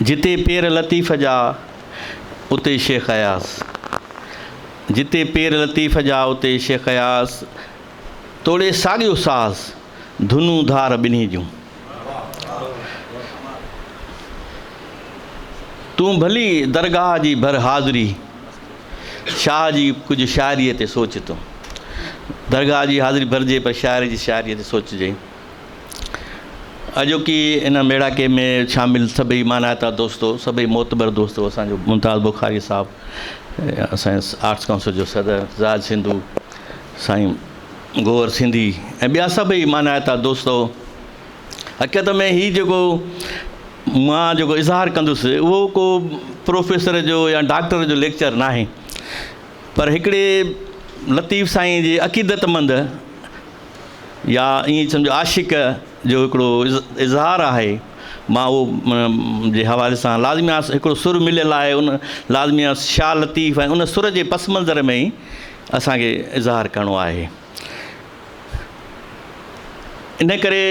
جتي پير لطيف جا اتي شيخ اياز جتي پير لطيف جا اتي شيخ اياز توڙي ساڳيو ساز ڌنون ڌار ٻنهي جون تون ڀلي درگاهه جي ڀر حاضري شاهه جي ڪجهه شاعري تي سوچ تون درگاهه جي حاضري ڀرجي پر شاعر جي شاعري تي سوچجي اڄوڪي ان ميڙاڪي ۾ شامل سڀئي مانائتا دوستو، سڀئي معتبر دوستو، اسان جو ممتاز بخاري صاحب، اسان جي آرٽس ڪائونسل جو صدر زاھد سنڌو، سائين گوھر سنڌي ۽ ٻيا سڀئي مانائتا دوستو، حقيقت ۾ ھي جيڪو مان جيڪو اظھار ڪندس اھو ڪو پروفيسر جو يا ڊاڪٽر جو ليڪچر ناھي پر ھڪڙي لطيف سائين جي عقيدتمند، يا ائين سمجهو عاشق جو هڪڙو اظهار آهي مان اهو جي حوالي سان لازمي آهي هڪڙو سر مليل آهي ان لازمي آهي شاهه لطيف ۽ ان سر جي پس منظر ۾ ئي اسان کي اظهار ڪرڻو آهي ان ڪري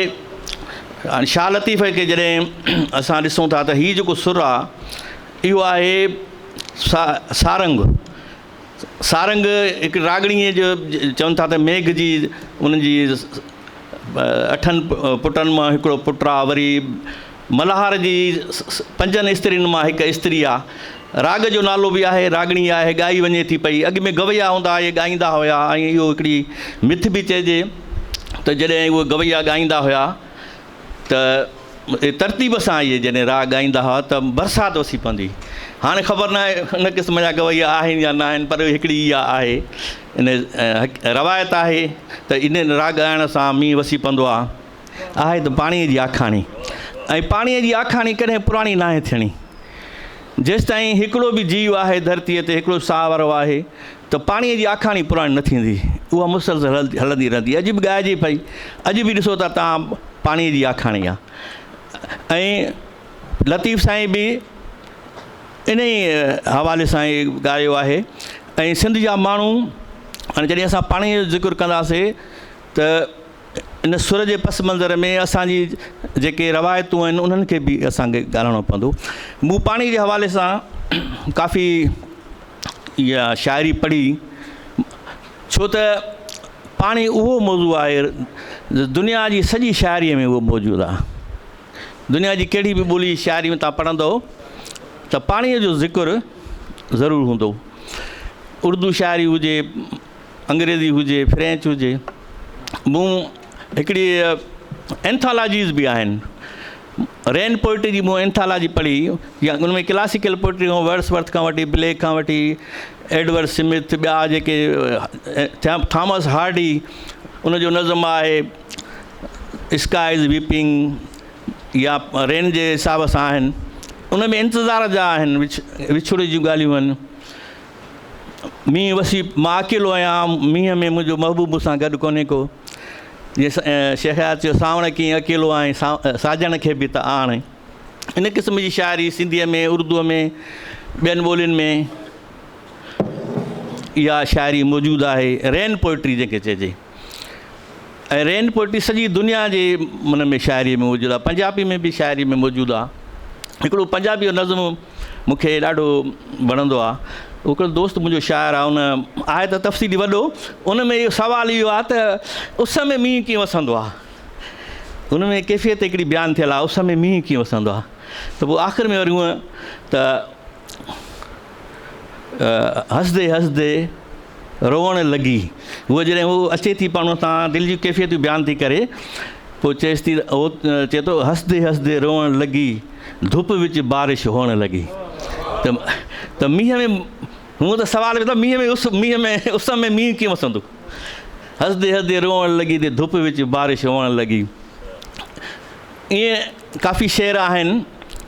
هاڻي شاهه لطيف کي جڏهن اسان ڏسون ٿا ته هي جيڪو سر آهي اهو آهي سا سارنگ سارنگ هڪ راڳڻيء جو چون ٿا ته ميگهه جي انهن جي اٺن پٽن مان هڪڙو پٽ آ، وري ملهار جي پنجن استرين مان هڪ استري آ. راڳ جو نالو به آهي، راڳڻي آهي، ڳائي وڃي ٿي پئي. اڳ ۾ گويا هوندا اهي ڳائيندا هيا ۽ اهو هڪڙي مٿ به چئجي ته جڏهن اهي گويا ڳائيندا هيا ته ترتيب سان اهي جڏهن راڳ ڳائيندا هئا ته برسات وسي پوندي هئي. هاڻي خبر ناهي ان قسم جا گويا آهن يا ناهن پر هڪڙي اها آهي ان روايت آهي ته ان راڳ ڳائڻ سان مينهن وسي پوندو آهي. آهي ته پاڻيء جي آکاڻي ۽ پاڻيء جي آکاڻي ڪڏهن پراڻي ناهي ٿيڻي. جيستائين هڪڙو به جيو آهي ڌرتيء تي هڪڙو ساهه وارو آهي. ته پاڻيء جي آکاڻي پراڻي نه ٿيندي، اها مسلسل هلندي رهندي. اڄ به ڳائجي پئي. اڄ به ڏسو ته توهان پاڻيء جي آکاڻي آ. ۽ لطيف سائين به انهيء حوالي سان ئي ڳايو آهي. ۽ سنڌ جا ماڻهو هاڻي جڏهن اسان پاڻيء جو ذڪر ڪنداسين ته ان سر جي پس منظر ۾ اسان جي جيڪي روايتون آهن انهن کي به اسان کي ڳالهائڻو پوندو. مون پاڻي جي حوالي سان ڪافي اها شاعري پڙهي ڇو ته پاڻي اهو موضوع آهي دنيا جي سڄي شاعري ۾ اهو موجود آهي. دنيا جي ڪهڙي به ٻولي جي شاعري ۾ تان پڙهندو ته پاڻي جو ذڪر ضرور هوندو. اردو شاعري هجي انگريزي هجي فرينچ هجي مون هڪڙي اينٿالاجيز به آهن رين پوئٽري جي مون اينٿالاجي پڙهي يا ان ۾ ڪلاسيڪل پوئٽري هو ورس ورٿ کان وٺي بليڪ کان وٺي ايڊورڊ سمٿ ٻيا جيڪي ٿيا ٿامس هارڊي ان جو نظم آهي اسڪائز ويپنگ يا رين جي حساب سان آهن ان ۾ انتظار جا آهن وڇ وڇوڙي جون ڳالهيون آهن مينهن وسي مان اڪيلو آهيان، مينهن ۾ منهنجو محبوب مون سان گڏ ڪونهي ڪو. شيخ حيات چيو، سانوڻ ڪيئن اڪيلو آهين، ساجڻ کي به ته آڻ. ان قسم جي شاعري سنڌيء ۾ اردوء ۾ ٻين ٻولين ۾ اها شاعري موجود آهي، رين پوئٽري جنهن کي چئجي. ۽ رين پوئٽري سڄي دنيا جي ان ۾ شاعري ۾ موجود آ پنجابي ۾ به شاعري ۾ موجود آ هڪڙو پنجابي جو نظم مونکي ڏاڍو وڻندو آ هڪڙو دوست منهنجو شاعر آ ان آهي ته تفصيلي وڏو ان ۾ اهو سوال اهو آ ته اس ۾ مينهن ڪيئن وسندو آ ان ۾ ڪيفيت هڪڙي بيان ٿيل آ اس ۾ مينهن ڪيئن وسندو آ ته پوء آخر ۾ وري هونء ته هسدي هسدي روئڻ لڳي. هوء جڏهن هو اچي ٿي پاڻ سان دل جون ڪيفيتون بيان ٿي ڪري پوء چئيس ٿي هو چئي ٿو هسدي هسدي روئڻ لڳي ڌپ وچ بارش هئڻ لڳي ته ته مينهن ۾ هون ته سوال ڪري ٿو مينهن ۾ اس مينهن ۾ اس ۾ مينهن ڪيئن وسندو هسدي هسدي روئڻ لڳي ته ڌپ وچ بارش هئڻ لڳي ائين ڪافي شعر آهن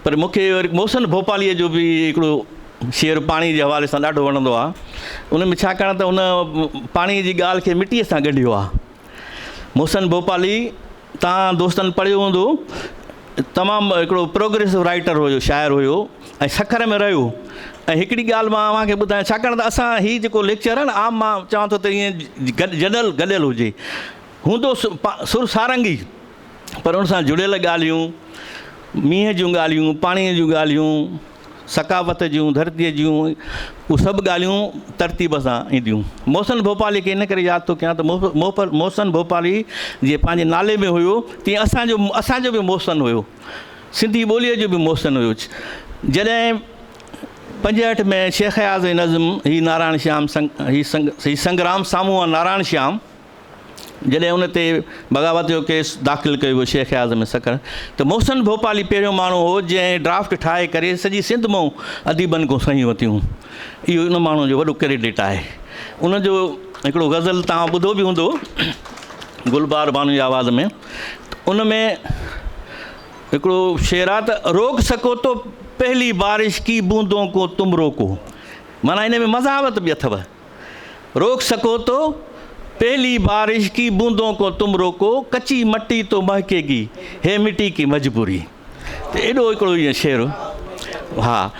پر مون کي وري محسن ڀوپاليء جو به هڪڙو شعر پاڻي جي حوالي سان ڏاڍو وڻندو آهي. ان ۾ ڇاڪاڻ ته هن پاڻي جي ڳالهه کي مٽيء سان ڳنڍيو آهي. محسن ڀوپالي توهان دوستن پڙهيو هوندو تمام هڪڙو پروگريسو رائيٽر هيو شاعر هيو ۽ سکر ۾ رهيو ۽ هڪڙي ڳالهه مان اوهان کي ٻڌايان ڇاڪاڻ ته اسان هي جيڪو ليڪچر آهي نه عام مان چوان ٿو ته ايئن جنرل گڏيل هجي هوندو سر سارنگي پر ان سان جڙيل ڳالهيون، مينهن جون ڳالهيون، پاڻيء جون ڳالهيون، ثقافت جون، ڌرتيء جون، اهي سڀ ڳالهيون ترتيب سان اينديون. محسن ڀوپاليء کي ان ڪري ياد ٿو ڪيان ته محسن ڀوپالي جيئن پنهنجي نالي ۾ هيو، تيئن اسان جو اسان جو به محسن هيو. سنڌي ٻوليء جو به محسن هيو. جڏهن پنجهٺ ۾ شيخ اياز جي نظم هي نارائڻ شيام هي سنگرام سامهون آ نارائڻ شيام، جڏهن ان تي بغاوت جو ڪيس داخل ڪيو ويو شيخ اعظم سکر ته محسن ڀوپالي پهريون ماڻهو هو جنهن ڊرافٽ ٺاهي ڪري سڄي سنڌ مئون اديبن کان صحيحون ورتيون اهو ان ماڻهو جو وڏو ڪريڊٽ آهي ان جو هڪڙو غزل توهان ٻڌو به هوندو گلبار بانو جي آواز ۾ ان ۾ هڪڙو شعر آهي ته روڪ سکو تو پهلي بارش ڪي بوندون ڪو تم روڪو معنيٰ ان ۾ مزاوت به اٿو روڪ سڪو تو، پهلي بارش ڪي بوندون ڪو تم روڪو، ڪچي مٽي تو مهڪي گي، هي مٽي ڪي مجبوري. ته ايڏو هڪڙو ائين شعر هو. ها.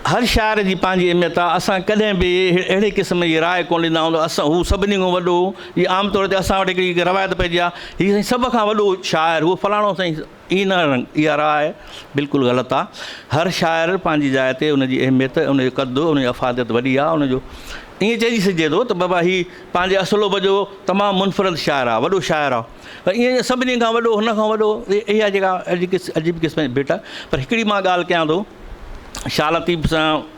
هر شاعر جي پنهنجي اهميت آ. اسان ڪڏهن به اهڙي قسم جي راء ڪونه ڏيندا آهيون ته اسان هو سڀني کان وڏو هو. جي عام طور تي اسان وٽ هڪڙي روايت پئجي آ، هي سائين سڀ کان وڏو شاعر هو فلاڻو سائين. اي نه رنگ، اها راء بلڪل غلط آ. هر شاعر پنهنجي جاء تي ان جي اهميت، ان جو قد، ان جي افاديت وڏي آ. ان جو ائين چئجي سگهجي ٿو ته بابا هي پنهنجي اصلوب جو تمام منفرد شاعر آ، وڏو شاعر آ. پر ائين جو سڀني کان وڏو، هن کان وڏو، اها جيڪا عجيب قسم جي ڀيٽ آ. پر هڪڙي مان ڳالهه ڪيان ٿو شاهه لطيف سان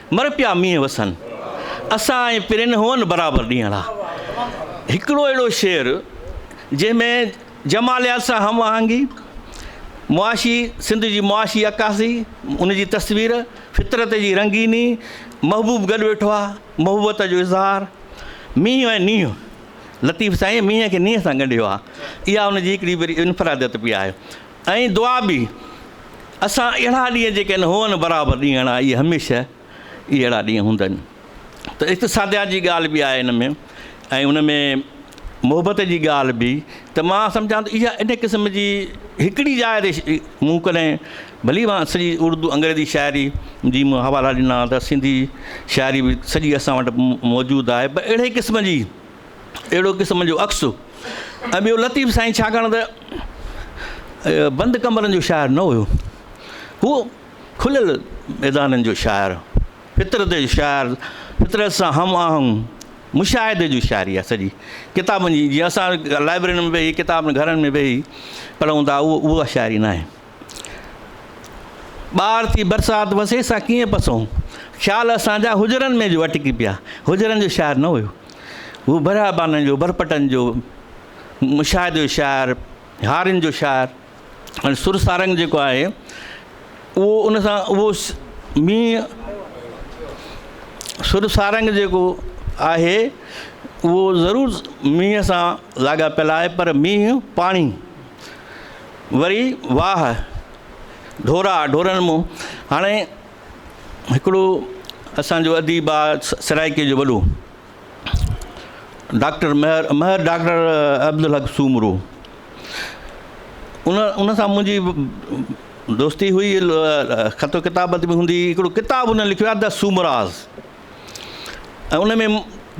مر پيا مينهن وسن، اسان ۽ پرين هئن برابر ڏينهڙا. هڪڙو اهڙو شعر جنهن ۾ جماليات سان هم آهنگي، معاشي سنڌ جي معاشي عڪاسي، ان جي تصوير، فطرت جي رنگيني، محبوب گڏ ويٺو آهي، محبت جو اظهار، مينهن ۽ نينهن، لطيف سائين مينهن کي نينهن سان ڳنڍيو آهي، اها ان جي هڪڙي وري انفراديت به آهي. ۽ دعا به اسان اهڙا ڏينهن جيڪن هئن برابر ڏينهن اڻا اهي هميشه ئي اهڙا ڏينهن هوندن ته اقتصاديات جي ڳالهه به آهي ان ۾ ۽ ان ۾ محبت جي ڳالهه به ته مان سمجهان ته اها ان قسم جي هڪڙي جاء تي مون ڪڏهن ڀلي مان سڄي اردو انگريزي شاعري جي مون حوالا ڏنا ته سنڌي شاعري به سڄي اسان وٽ موجود آهي پر اهڙي قسم جي اهڙو قسم جو عڪس ۽ ٻيو لطيف سائين ڇاڪاڻ ته بند ڪمرن جو شاعر نه هيو هو کليل ميدانن جو شاعر فطرت جو شاعر فطرت سان هم آهنگ مشاهدي جو شاعري آهي سڄي ڪتابن جي جيئن اسان لائبررين ۾ ويهي ڪتاب گهرن ۾ ويهي پڙهون ٿا اهو اها شاعري ناهي ٻار ٿي برسات وسي سان ڪيئن پسون. خيال اسان جا هجرن ۾ جو اٽڪي پيا. هجرن جو شاعر نه هيو. هو برهابانن جو، برپٽن جو، مشاهدي جو شاعر، هارين جو شاعر ۽ سر سارنگ جيڪو آهي اهو ان سان اهو مينهن سر سارنگ جيڪو آهي اهو ضرور مينهن سان لاڳاپيل آهي پر مينهن پاڻي وري واھ ڍورا ڍورن مون هاڻي هڪڙو اسان جو اديب آ سرائيڪي جو وڏو ڊاڪٽر مهر مهر ڊاڪٽر عبدالحق سومرو ان ان سان منهنجي دوستي هئي خط و ڪتابت به هوندي هڪڙو ڪتاب هن لکيو آ د سومراز ۽ ان ۾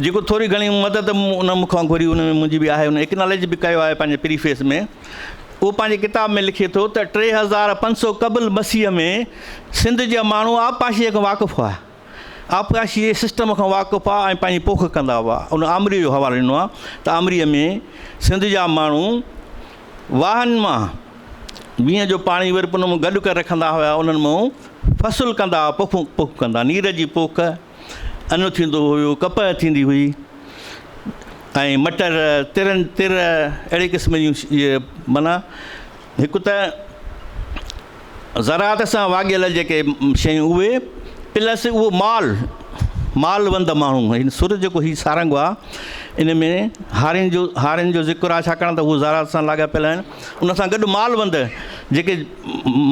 جيڪو ٿوري گهڻي مدد ان مون کان گهري ان ۾ منهنجي به آهي ان ايڪناليج به ڪيو آهي پنهنجي پريفيس ۾ اهو پنهنجي ڪتاب ۾ لکي ٿو ته ٽي هزار پنج سو قبل مسيح ۾ سنڌ جا ماڻهو آبپاشيء کان واقف هئا آبپاشي جي سسٽم کان واقف هئا ۽ پنهنجي پوک ڪندا هئا ان آمريء جو حوالو ڏنو آهي ته آمريء ۾ سنڌ جا ماڻهو واهن مان مينهن جو پاڻي وري ان مان گڏ ڪري رکندا هيا انهن مان فصل ڪندا هئا پوکون پوک ڪندا نير جي پوک انو ٿيندو هيو ڪپهه ٿيندي هئي ۽ مٽر ترن تر اهڙي قسم جون معنيٰ هڪ ته زراعت سان واڳيل جيڪي شيون اهي پلس اهو مال مال وند ماڻهو هن سر جيڪو هي سارنگ آ ان ۾ هارين جو هارين جو ذڪر آهي ڇاڪاڻ ته هو زراعت سان لاڳاپيل آهن ان سان گڏ مال وند جيڪي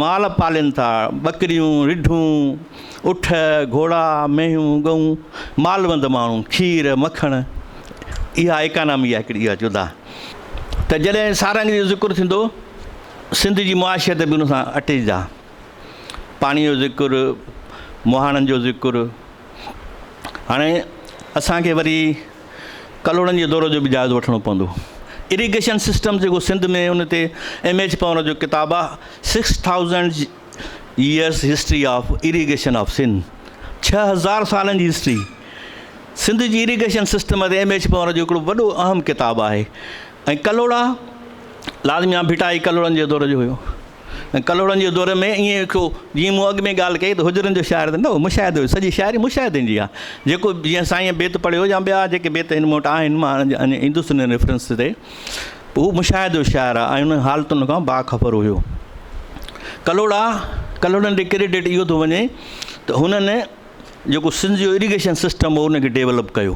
مال پالين ٿا ٻڪريون رڍون اٺ گهوڙا مينهون ڳئون مال وند ماڻهو کير مکڻ اها اڪانامي آهي هڪڙي اها جدا ته جڏهن سارنگ جو ذڪر ٿيندو سنڌ جي معاشيت به ان سان اٽي جا. پاڻي جو ذڪر، مهاڻن جو ذڪر، هاڻي اسان کي وري ڪلهوڙن جي دور جو به جائزو وٺڻو پوندو. اريگيشن سسٽم جيڪو سنڌ ۾ ان تي ايم ايڇ پنور جو ڪتاب آ six thousand years history of irrigation of Sindh ڇهه هزار سالن جي هسٽري سنڌ جي اريگيشن سسٽم تي ايم ايڇ پنور جو هڪڙو وڏو اهم ڪتاب آهي. ۽ ڪلهوڙا لال ميان ڀٽائي هي ڪلهوڙن جي دور جو هيو ۽ ڪلهوڙن جي دور ۾ ائين هيو جيئن مون اڳ ۾ ڳالهه ڪئي ته هجرن جو شاعر ته نه هو مشاهدو هيو سڄي شاعري مشاهدن جي آهي جيڪو جيئن سائينء بيت پڙهيو يا ٻيا جيڪي بيت هن وٽ آهن مان ان ايندس ان ريفرنس تي هو مشاهدو شاعر آهي ۽ انهن حالتن کان باخبر هيو ڪلهوڙا ڪلهوڙن ڏي ڪريڊٽ اهو ٿو وڃي ته هنن جيڪو سنڌ جو اريگيشن سسٽم هو ان کي ڊيولپ ڪيو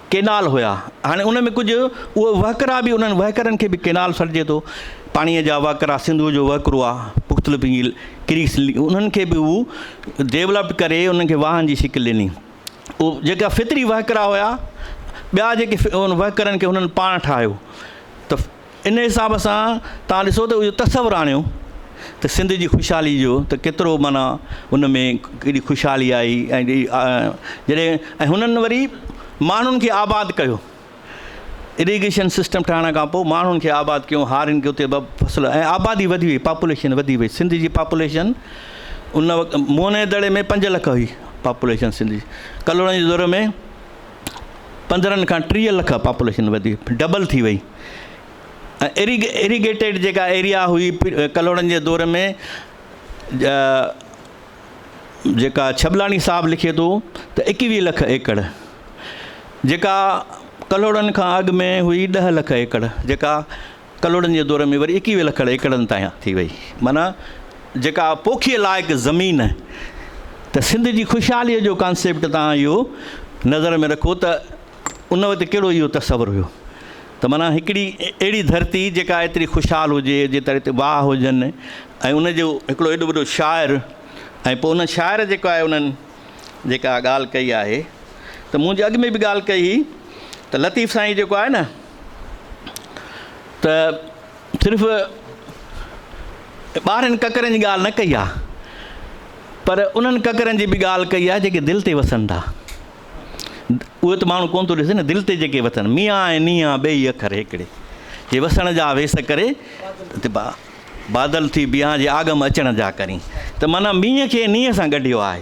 ڪينال هيا هاڻي ان ۾ ڪجهه اهي وهڪرا به انهن وهڪرن کي به ڪينال سڏجي ٿو پاڻي جا وهڪرا سنڌو جو وهڪرو آ مختلف جيل ڪريس انهن کي به هو ڊيولپڊ ڪري انهن کي واهن جي شڪل ڏني او جيڪا فطري وهڪرا هيا ٻيا جيڪي ان وهڪرن کي انهن پاڻ ٺاهيو ته ان حساب سان توهان ڏسو ته اهو تصور آڻيو ته سنڌ جي خوشحالي جو ته ڪيترو معنيٰ ان ۾ ڪيڏي خوشحالي آئي ۽ جڏهن ۽ هنن وري ماڻهن کي آباد ڪيو اريگيشن سسٽم ٺاهڻ کان پوء ماڻهن کي آباد ڪيو هارين کي اتي فصل ۽ آبادي وڌي وئي پاپوليشن وڌي وئي سنڌ جي پاپوليشن ان وقت موهن جي دڙي ۾ پنج لک هئي پاپوليشن سنڌ جي ڪلهوڙن جي دور ۾ پندرهن کان ٽيهه لک پاپوليشن وڌي ڊبل ٿي وئي اري اريگيٽيڊ جيڪا ايريا هئي ڪلهوڙن جي دور ۾ جيڪا ڇٻلاڻي صاحب لکي ٿو ته ايڪويهه لک ايڪڙ جيڪا ڪلهوڙن کان اڳ ۾ هئي ڏهه لک ايڪڙ جيڪا ڪلهوڙن جي دور ۾ وري ايڪيويهه لکڙ ايڪڙن تائين ٿي وئي، معنيٰ جيڪا پوکيء لائق زمين، ته سنڌ جي خوشحاليء جو ڪانسيپٽ تان اهو نظر ۾ رکو ته ان وقت ڪهڙو اهو تصور هيو ته معنيٰ هڪڙي اهڙي ڌرتي جيڪا ايتري خوشحال هجي، جيترا هتي واهه هجن ۽ ان جو هڪڙو ايڏو وڏو شاعر ۽ پوء ان شاعر جيڪو آهي انهن جيڪا ڳالهه ڪئي آهي ته مون جي اڳ ۾ به ڳالهه ڪئي هئي ته لطيف سائين جيڪو آهي نه، ته صرف ٻارهن ڪڪرن جي ڳالهه نه ڪئي آهي پر انهن ڪڪرن جي به ڳالهه ڪئي آهي جيڪي دل تي وسن ٿا اهي ته ماڻهو ڪونه ٿو ڏسي نه دل تي جيڪي وسن ميان ۽ نيان ٻئي اکر هڪڙي جي وسڻ جا ويس ڪري بادل ٿي بيان جي آگم اچڻ جا ڪرين ته مانا مينهن کي نينهن سان ڳنڍيو آهي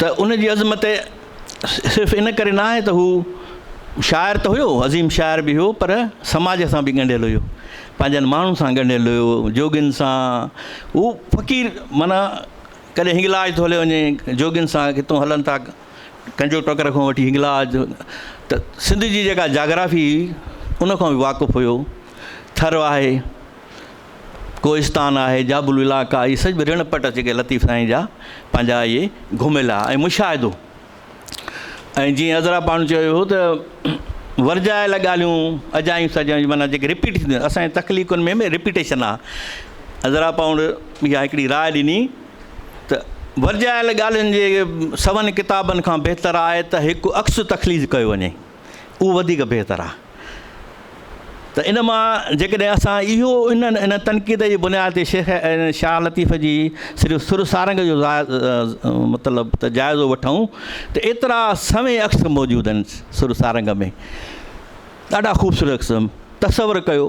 ته ان جي عظمت صرف ان ڪري ناهي ته هو شاعر ته هيو عظيم شاعر به هيو پر سماج سان به ڳنڍيل هيو پنهنجن ماڻهن سان ڳنڍيل هيو جوڳين سان هو فقير معنيٰ ڪڏهن هنگلاج ٿو هليو وڃي جوڳين سان ڪٿو هلن ٿا ڪنجو ٽڪر کان وٺي هنگلاج ته سنڌ جي جيڪا جاگرافي ان کان بي واقف هيو ٿر آهي ڪوهستان آهي، جابلو علائقا، اهي سڄ به رڻ پٽ اچي ڪي لطيف سائين جا پنهنجا اهي گهميلا ۽ مشاهدو ۽ جيئن عذرا پاڻ چيو هو ته ورجايل ڳالهيون اجايون سجايون معنيٰ جيڪي رپيٽ ٿينديون اسان جي تخليقن ۾ رپيٽيشن آهي عذرا پاڻ اها هڪڙي راء ڏني ته ورجايل ڳالهين جي سون ڪتابن کان بهتر آهي ته هڪ عڪس تخليق ڪيو وڃي اهو وڌيڪ بهتر آهي ته ان مان جيڪڏهن اسان اهو ان ان تنقيد جي بنياد تي شيخ شاهه لطيف جي صرف سر سارنگ جو مطلب ته جائزو وٺون ته ايترا سوين عڪس موجود آهن سر سارنگ ۾ ڏاڍا خوبصورت عڪس تصور ڪيو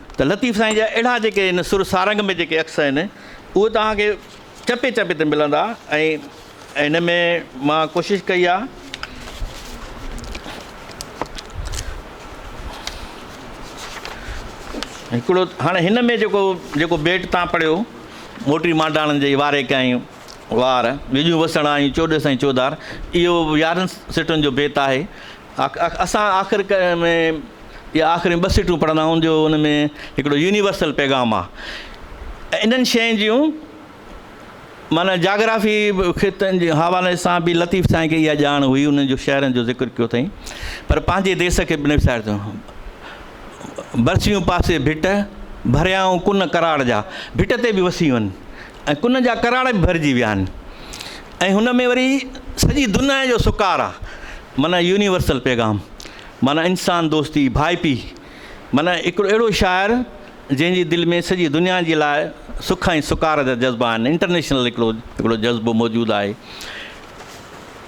ته لطيف سائين جا اهڙا جيڪي هن سر سارنگ ۾ جيڪي عڪس آهن اهي توهان کي چپي چپي تي ملندا ۽ هن ۾ مان ڪوشش ڪئي آ هڪڙو هاڻي هن ۾ جيڪو جيڪو بيٽ تان پڙهيو موٽي مانڊاڻن جي واري ڪئين وار ويڄون وسڻ آيون چوڏس ۽ چوڌار اهو يارهن سٽن جو بيت آهي اسان آخر ۾ اهي آخريون ٻه سٽون پڙهندا آهيون جو ان ۾ هڪڙو يونيورسل پيغام آهي ۽ انهن شين جون معنيٰ جاگرافي خطن جي حوالي سان به لطيف سائين کي اها ڄاڻ هئي انهن جو شهرن جو ذڪر ڪيو اٿئي پر پنهنجي ديس کي بنفش ظاهر ٿيو برسيون پاسي ڀٽ ڀريائون ڪن ڪراڙ جا ڀٽ تي به وسيون ۽ ڪن جا ڪراڙ به ڀرجي ويا آهن ۽ هن ۾ وري سڄي دنيا جو سڪار آ معنيٰ يونيورسل پيغام معنيٰ انسان دوستي ڀائپي معنيٰ هڪڙو اهڙو شاعر جنهن جي دل ۾ سڄي دنيا جي لاء سک ۽ سڪار جا جذبا آهن انٽرنيشنل هڪڙو هڪڙو جذبو موجود آهي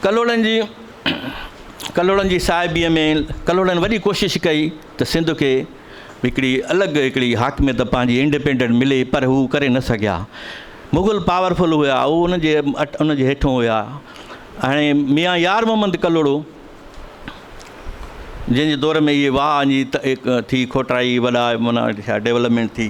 ڪلهوڙن جي ڪلهوڙن جي صاحبيء ۾ ڪلهوڙن وڏي ڪوشش ڪئي ته سنڌ کي هڪڙي الڳ هڪڙي حاڪميت پنهنجي انڊيپينڊنٽ ملي پر هو ڪري نه سگهيا. مغل پاور فل هيا هو ان جي ان جي هيٺون هيا. هاڻي ميان يار محمد ڪلهوڙو جنهن جي دور ۾ اهي واهه ٿي کوٽرائي وڏا معنيٰ ڊيولپمينٽ ٿي.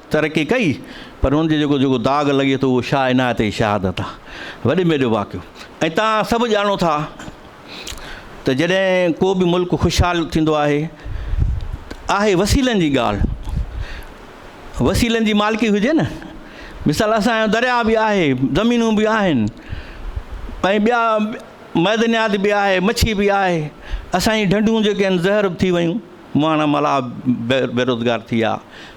ترقي ڪئي پر ان جو جيڪو جيڪو داغ لڳي ٿو اهو شاهه عنايت جي شهادت آهي وڏي ۾ وڏو واقعو ۽ تان سڀ ڄاڻو ٿا ته جڏهن ڪو به ملڪ خوشحال ٿيندو آهي آهي وسيلن جي ڳالهه وسيلن جي مالڪي هجي نه مثال اسانجو درياء به آهي زمينون به آهن ۽ ٻيا معدنيات به آهي مڇي به آهي اسانجي ڍنڍون جيڪي آهن زهر به ٿي ويون ماڻا ملاح بيروزگار ٿي ويا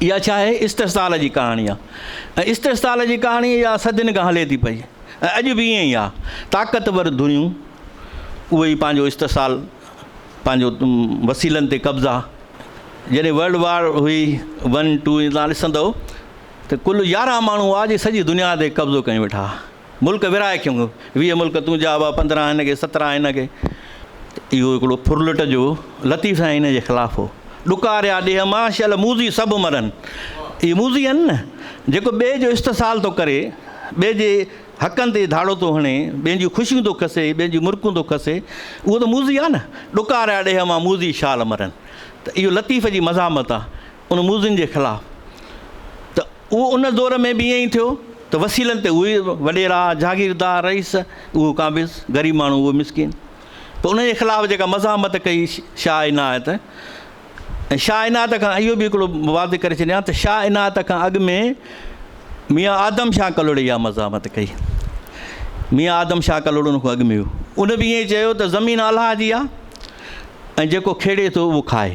اها ڇا آهي؟ استحصال جي ڪهاڻي آهي ۽ استحصال جي ڪهاڻي اها صدين کان هلي ٿي پئي ۽ اڄ به ائين ئي آهي. طاقتور ڌريون اهي ئي پنهنجو استحصال، پنهنجو وسيلن تي قبضا، جڏهن ورلڊ وار هئي ون ٽو ائين توهان ڏسندؤ ته ڪل يارهن ماڻهو هئا جي سڄي دنيا تي قبضو ڪيون ويٺا ها. ملڪ ورهائي کيون ويهه ملڪ تون جا ابا پندرهن هن کي سترهن هن کي اهو هڪڙو ڦرلٽ جو لطيف سائين هن جي خلاف هو ڏڪاريا ڏيهه مان شل موزي سڀ مرن اهي موزي آهن نه جيڪو ٻئي جو استحصال ٿو ڪري ٻئي جي حقن تي ڌاڙو ٿو هڻي ٻين جون خوشيون ٿو کسي ٻين جون مرڪون ٿو کسي اهو ته موزي آهي نه ڏڪاريا ڏيهه مان موزي شال مرن ته اهو لطيف جي مزاحمت آهي ان موذن جي خلاف ته اهو ان دور ۾ به ائين ئي ٿيو ته وسيلن تي اهي وڏيرا، جاگيردار، رئيس، اهو قابض، غريب ماڻهو اهو مسڪين. پوء ان جي خلاف جيڪا مزاحمت ڪئي شاهه عنايت ۽ شاهه عنايت کان اهو به هڪڙو واضح ڪري ڇڏيان ته شاهه عنايت کان اڳ ۾ ميان آدم شاهه ڪلهوڙي اها مزاحمت ڪئي. ميان آدم شاهه ڪلهوڙو ان کان اڳ ۾ هو. ان به ائين چيو ته زمين الله جي آهي ۽ جيڪو کيڙي ٿو اهو کائي.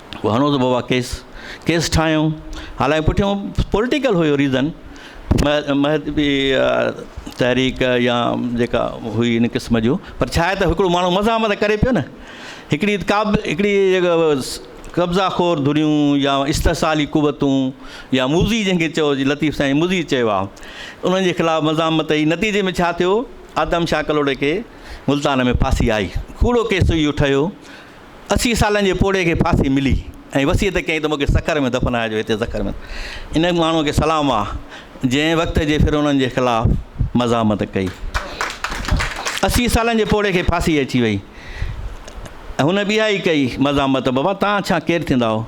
هو هڻو ته بابا ڪيس ڪيس ٺاهيو حالانڪه پٺيو پوليٽيڪل هيو ريزن تحريڪ يا جيڪا هئي ان قسم جو پر ڇا آهي ته هڪڙو ماڻهو مزاحمت ڪري پيو نه هڪڙي ڪا به هڪڙي قبضا خور ڌريون يا استحصالي قوتون يا موزي جنهن کي چئو جي لطيف سائين موزي چيو آهو انهن جي خلاف مزاحمت اي نتيجي ۾ ڇا ٿيو آدم شاهه ڪلهوڙي کي ملتان ۾ ڦاسي آئي ڪوڙو ڪيس اهو ٺهيو اسي سالن جي پوڙهي کي ڦاسي ملي ۽ وصيت ڪيائين ته مون کي سکر ۾ دفنائجو هتي سکر ۾ ان ماڻهوء کي سلام آ جنهن وقت جي فرعونن جي خلاف مزاحمت ڪئي اسي سالن جي پوڙهي کي ڦاسي اچي وئي هن ٻي آئي ڪئي مزاحمت بابا تان ڇا ڪير ٿيندا هو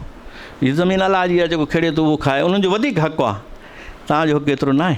هي زمين الله جي آ جيڪو کڙي ٿو اهو کائي انهن جو وڌيڪ حق آ تان جو حق ايترو ناهي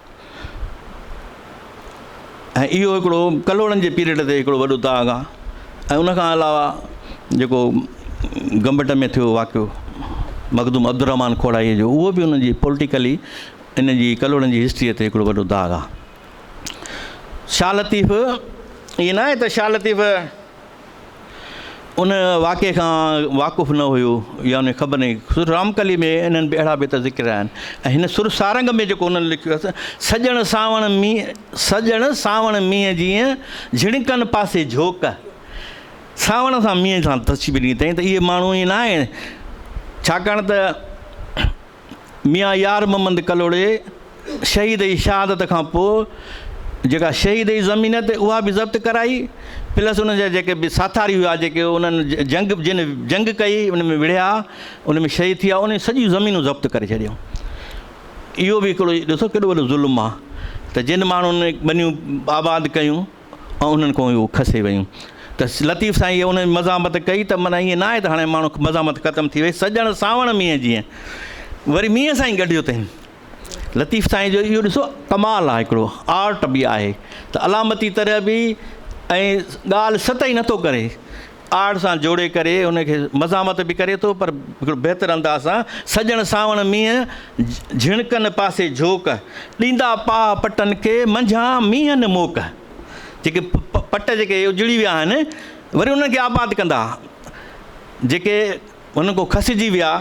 ۽ اهو هڪڙو ڪلهوڙن جي پيريڊ تي هڪڙو وڏو داغ آهي ۽ ان کان علاوه جيڪو گمبٽ ۾ ٿيو واقعو مخدوم عبدالرحمان کوڙائيء جو اهو به ان جي پوليٽيڪلي ان جي ڪلهوڙن جي هسٽريء تي هڪڙو وڏو داغ آهي شاهه لطيف ائين نه آهي ته شاهه لطيف ان واقعي کان واقف نه هيو يا ان خبر نهي سر رام ڪلي ۾ انهن به اهڙا بيت ذڪر آهن ۽ هن سر سارنگ ۾ جيڪو انهن لکيو اٿس سڄڻ سانوڻ مينهن سڄڻ سانوڻ مينهن جيئن جهڻڪن پاسي جهوڪ سانوڻ سان مينهن سان تشبيهه ڏني اٿئين ته اهي ماڻهو ائين ناهي ڇاڪاڻ ته ميان يار محمد ڪلهوڙي شهيد جي شهادت کان پوء جيڪا شهيد جي زمين آهي ته اها به ضبط ڪرائي پلس انهن جا جيڪي به ساٿاري هيا جيڪي انهن جنگ جن جنگ ڪئي ان ۾ وڙهيا ان ۾ شهيد ٿيا انهن سڄيون زمينون ضبط ڪري ڇڏيون اهو به هڪڙو ڏسو ڪيڏو وڏو ظلم آهي ته جن ماڻهن ٻنيون آباد ڪيون ۽ انهن کان اهو کسي ويون ته لطيف سائين اهي انهن مزاحمت ڪئي ته معنيٰ ائين ناهي ته هاڻي ماڻهو مزاحمت ختم ٿي وئي سڄڻ سانوڻ مينهن جيئن وري مينهن سان ئي گڏيو اٿين لطيف سائين جو اهو ڏسو ڪمال آهي هڪڙو آرٽ به آهي ته علامتي طرح به ۽ ڳالهه سٽ ئي نٿو ڪري آڙ سان جوڙي ڪري ان کي مزاحمت به ڪري ٿو پر هڪڙو بهتر انداز سان سڄڻ سانوڻ مينهن جهڻڪن پاسي جهوڪ ڏيندا پاهه پٽن کي منجهان مينهن موڪ جيڪي پٽ جيڪي اجڙي ويا آهن وري انهن کي آباد ڪندا جيڪي انهن کان کسجي ويا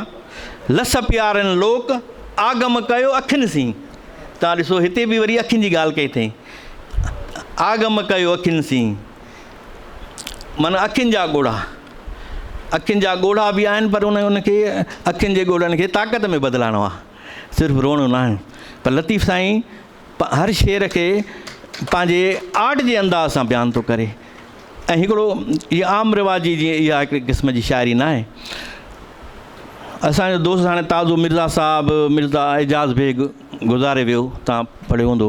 لس پيارن لوڪ آگم ڪيو اکين سين تان ڏسو هتي به وري اکين جي ڳالهه ڪئي اٿئي آگم ڪيو اکين سين معنيٰ اکين جا ڳوڙها. اکين جا ڳوڙها به آهن پر ان ان کي اکين جي ڳوڙهن کي طاقت ۾ بدلائڻو آهي. صرف روئڻو نه آهي. پر لطيف سائين هر شعر کي پنهنجي آرٽ جي انداز سان بيان ٿو ڪري ۽ هڪڙو هي عام رواجي جي اها هڪڙي قسم جي شاعري ناهي. اسان جو دوست هاڻي تازو مرزا صاحب مرزا اعجاز بيگ گذاري ويو تان پڙهيو هوندو.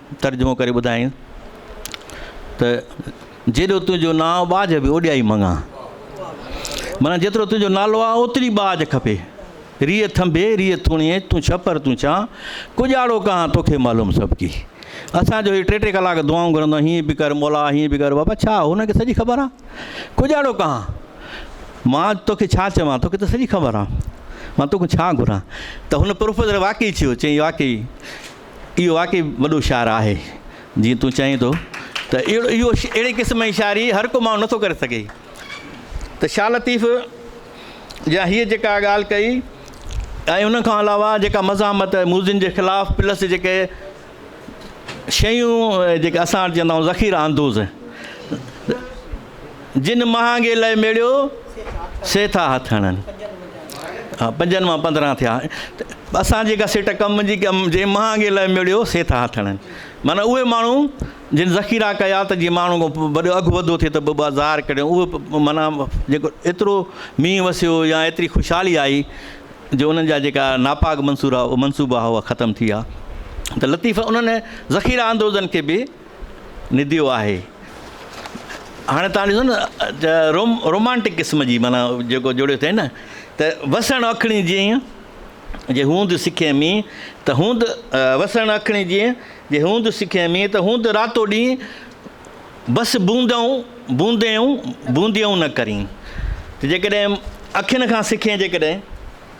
ترجمو ڪري ٻڌايائين ته جيڏو تنهنجو نانء ٻاجهه به اوڏيائي مڱان مانا جيترو تنهنجو نالو آ اوتري ٻاجهه کپي ريء ٿنڀي ريء ٿوڻي تون ڇپر تون چان ڪڄاڙو ڪهان توکي معلوم سڀ ڪي اسان جو هي ٽي ٽي ڪلاڪ دعائون گهرندو آهي هيئن به ڪر مولا هيئن به ڪر بابا ڇا هن کي سڄي خبر آهي ڪڄاڙو ڪهان مان توکي ڇا چوان توکي ته سڄي خبر آهي مان توکان ڇا گهران ته هن پروفيسر واقعي ڇيو چيائين واقعي اهو واقعي وڏو شاعر آهي جيئن تون چئين ٿو ته اهڙو اهو اهڙي قسم جي شاعري هر ڪو ماڻهو نٿو ڪري سگهي ته شاهه لطيف جا هيء جيڪا ڳالهه ڪئي ۽ ان کان علاوه جيڪا مزاحمت موزن جي خلاف پلس جيڪي شيون جيڪي اسان وٽ چوندا آهيون ذخيره اندوز جن مهانگي لئه ميڙيو، سي ٿا هٿ هڻن. ها پنجن مان پندرهن ٿيا اسان جيڪا سٽ ڪم جي ڪم جي مهانگي لئه ميڙيو سي ٿا هٿ هڻن معنيٰ اهي ماڻهو جن ذخيرا ڪيا ته جي ماڻهو کان وڏو اگهه وڌو ٿي ته ٻه ظاهر ڪري اهو معنيٰ جيڪو ايترو مينهن وسيو يا ايتري خوشحالي آئي جو انهن جا جيڪا ناپاڪ منصورا منصوبا هئا ختم ٿي ويا ته لطيف انهن ذخيرا اندوزن کي به نديو آهي هاڻي توهان ڏسو نه روم رومانٽڪ قسم جي مانا جيڪو جوڙيو اٿئي نه ته وسڻ اکڻي جيئن جي هوند سکي مي ته هوند وسڻ اکڻي جيئن جي هوند سکي مي ته هوند راتو ڏينهن بس بوندئون بوندئون بونديئون نه ڪرين ته جيڪڏهن اکين کان سکين جيڪڏهن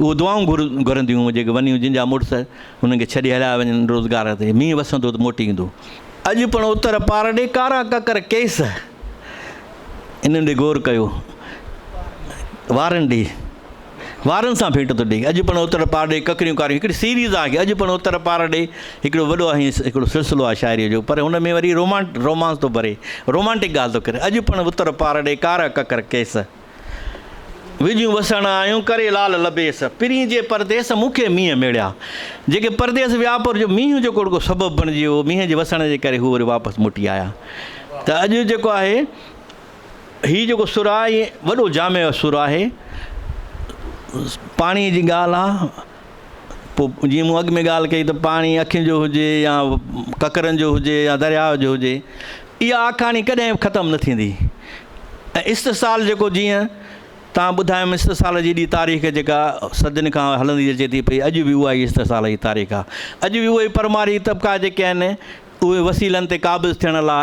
اهو دعائون گهرنديون هيون جيڪي ونيون جن جا مڙس هنن کي ڇڏي هليا وڃن روزگار تي مينهن وسندو ته موٽي ايندو. اڄ پڻ اتر پار ڏي ڪارا ڪڪر ڪيس انهن ڏي غور ڪيو وارن ڏي وارن سان ڀيٽ ٿو ڏي اڄ پڻ اتر پار ڏي ڪڪريون ڪاريون هڪڙي سيريز آهي اڄ پڻ اتر پار ڏي هڪڙو وڏو آهي هڪڙو سلسلو آهي شاعري جو پر هن ۾ وري رومانٽ رومانس ٿو ڀري رومانٽڪ ڳالهه ٿو ڪري اڄ پڻ اتر پار ڏي ڪارا ڪڪر ڪيس وڄيون وسڻ آيون ڪري لال لبيس. پرين جي پرديس مون کي مينهن ميڙيا. جيڪي پرديس ويا پر جو مينهن جيڪو رڳو سبب بڻجي ويو، مينهن جي وسڻ جي ڪري هو وري واپس موٽي آيا. ته اڄ جيڪو آهي هي جيڪو سر آهي وڏو جامع سر آهي. پاڻي جي ڳالهه آهي. پوء جيئن مون اڳ ۾ ڳالهه ڪئي ته پاڻي اکين جو هجي يا ڪڪرن جو هجي يا درياء جو هجي اها آکاڻي ڪڏهن به ختم نه ٿيندي ۽ استحصال جيڪو جيئن تان ٻڌايم استحصال جي ايڏي تاريخ جيڪا صدين کان هلندي اچي ٿي پئي اڄ به اها ئي استحصال جي تاريخ آهي اڄ به اهي پرماري طبقا جيڪي آهن اهي وسيلن تي قابض ٿيڻ لاء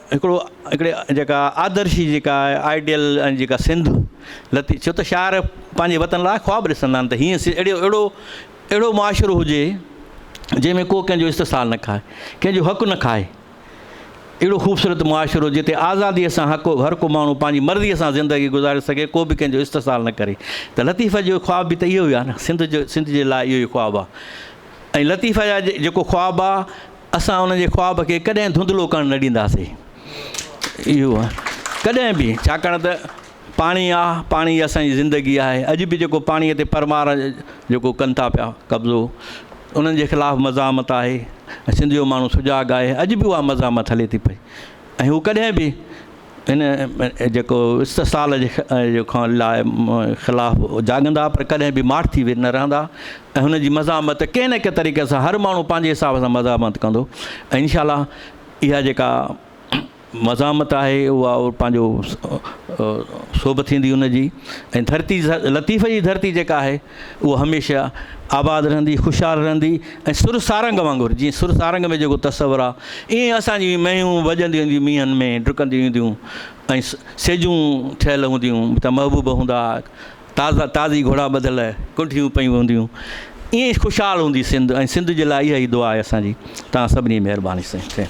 هڪڙو هڪڙي جيڪا آدرشي جيڪا آئيڊيل ۽ جيڪا سنڌ لتي ڇو ته شاعر پنهنجي وطن لاء خواب ڏسندا آهن ته هيئن اهڙو اهڙو اهڙو معاشرو هجي جنهن ۾ ڪو ڪنهن جو استحصال نه کائي ڪنهن جو حق نه کائي اهڙو خوبصورت معاشرو جتي آزادي سان حق هر ڪو ماڻهو پنهنجي مرضي سان زندگي گذاري سگهي ڪو به ڪنهن جو استحصال نه ڪري ته لطيف جو خواب به ته اهو ئي آهي نه سنڌ جو سنڌ جي لاء اهو ئي خواب آهي ۽ لطيف جا جيڪو خواب آهي اسان ان جي خواب کي ڪڏهن ڌنڌلو ڪرڻ نه ڏينداسي اهو ڪڏهن به ڇاڪاڻ ته پاڻي آ پاڻي اسان جي زندگي آهي اڄ به جيڪو پاڻي تي پرمار جيڪو ڪن ٿا پيا قبضو انهن جي خلاف مزاحمت آهي سنڌ جو ماڻهو سجاڳ آهي اڄ به اها مزاحمت هلي ٿي پئي ۽ هو ڪڏهن به ان جيڪو استحصال جي کان لاء خلاف جاڳندا پر ڪڏهن به ماٺ ٿي نه رهندا ۽ هن جي مزاحمت ڪنهن نه ڪنهن طريقي سان هر ماڻهو پنهنجي حساب سان مزاحمت ڪندو ۽ انشاء الله اها جيڪا مزاحمت آهي اها پنهنجو سوڀ ٿيندي ان جي ۽ ڌرتي لطيف جي ڌرتي جيڪا آهي اهو هميشه آباد رهندي، خوشحال رهندي ۽ سر سارنگ وانگر، جيئن سر سارنگ ۾ جيڪو تصور آ، ايئن اسان جون هي مينهيون وڄنديون اينديون مينهن ۾ ڊڪنديون اينديون ۽ سيجون ٺهيل هونديون ته محبوب هوندا ها، تازا تازي گهوڙا ٻڌل ڪنڍيون پيون هونديون، ايئن خوشحال هوندي سنڌ ۽ سنڌ جي لاء اها ئي دعا آهي اسان جي. توهان سڀني جي مهرباني سائين.